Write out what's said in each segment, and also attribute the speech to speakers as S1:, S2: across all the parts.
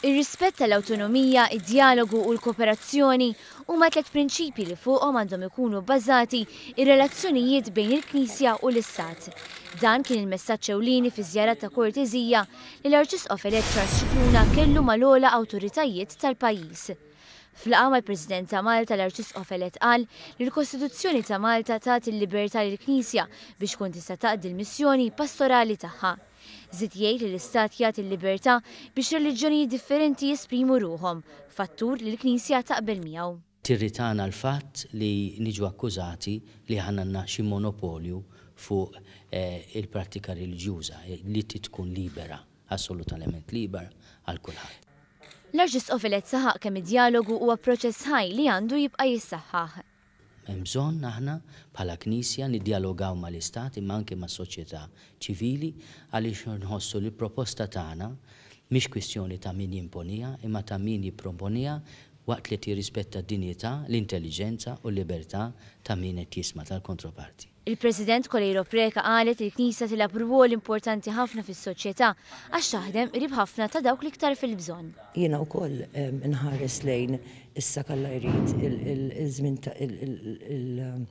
S1: Ir-rispett tal-awtonomija, id-djalogu u l-kooperazzjoni huma tliet prinċipji li fuqhom għandhom ikunu bbażati r-relazzjonijiet bejn il-Knisja u l-Istat. Dan kien il-messaġġ ewlieni fiż-żjara ta' korteżija li l-Arċisqof elett Charles Scicluna kellu mal-ogħla awtoritajiet tal-pajjiż. F'laqgħa mal-President ta' Malta l-Arċisqof elett qal li l-Kostituzzjoni ta' Malta tagħti l-libertà lill-Knisja biex tkun tista' taqdi l-missjoni pastorali tagħha. Żied jgħid li l-Istat jagħti l-libertà biex reliġjonijiet differenti jesprimu ruħhom, fattur li l-Knisja taqbel miegħu. Tirritana l-fatt li niġu akkużati li aħna għandna xi monopolju fuq il-prattika reliġjuża li trid tkun libera, assolutament libera għal kulħadd. L-Arċisqof elett saħaq kemm id-djalogu huwa proċess ħaj li għandu jibqa' jissaħħaħ. Hemm bżonn aħna bħala Knisja niddjalogaw mal-Istat imma anke mas-soċjetà ċivili għaliex nħossu li l-proposta tagħna mhix kwistjoni ta' min jimponiha imma ta' min jipproponiha waqt li qed jirrispetta d-dinjità, l-intelliġenza u l-libertà ta' min qed jisma', tal-kontroparti. Il-President Coleiro Preca qalet li l-Knisja tilgħab rwol importanti ħafna fis-soċjetà għax taħdem qrib ħafna ta' dawk l-iktar fil-bżonn. Jiena wkoll inħares lejn issa k'Alla jrid il-żmien ta' il-perjodu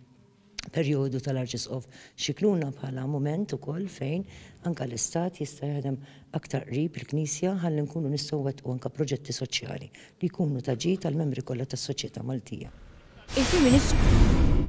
S1: tal-Arċisqof Scicluna bħala mument ukoll fejn anke l-Istat jista' jaħdem aktar qrib il-Knisja ħalli nkunu nistgħu nwettqu anke proġetti soċjali li jkunu ta' ġid għall-membri kollha tas-soċjetà Maltija. Il-Prim Ministru.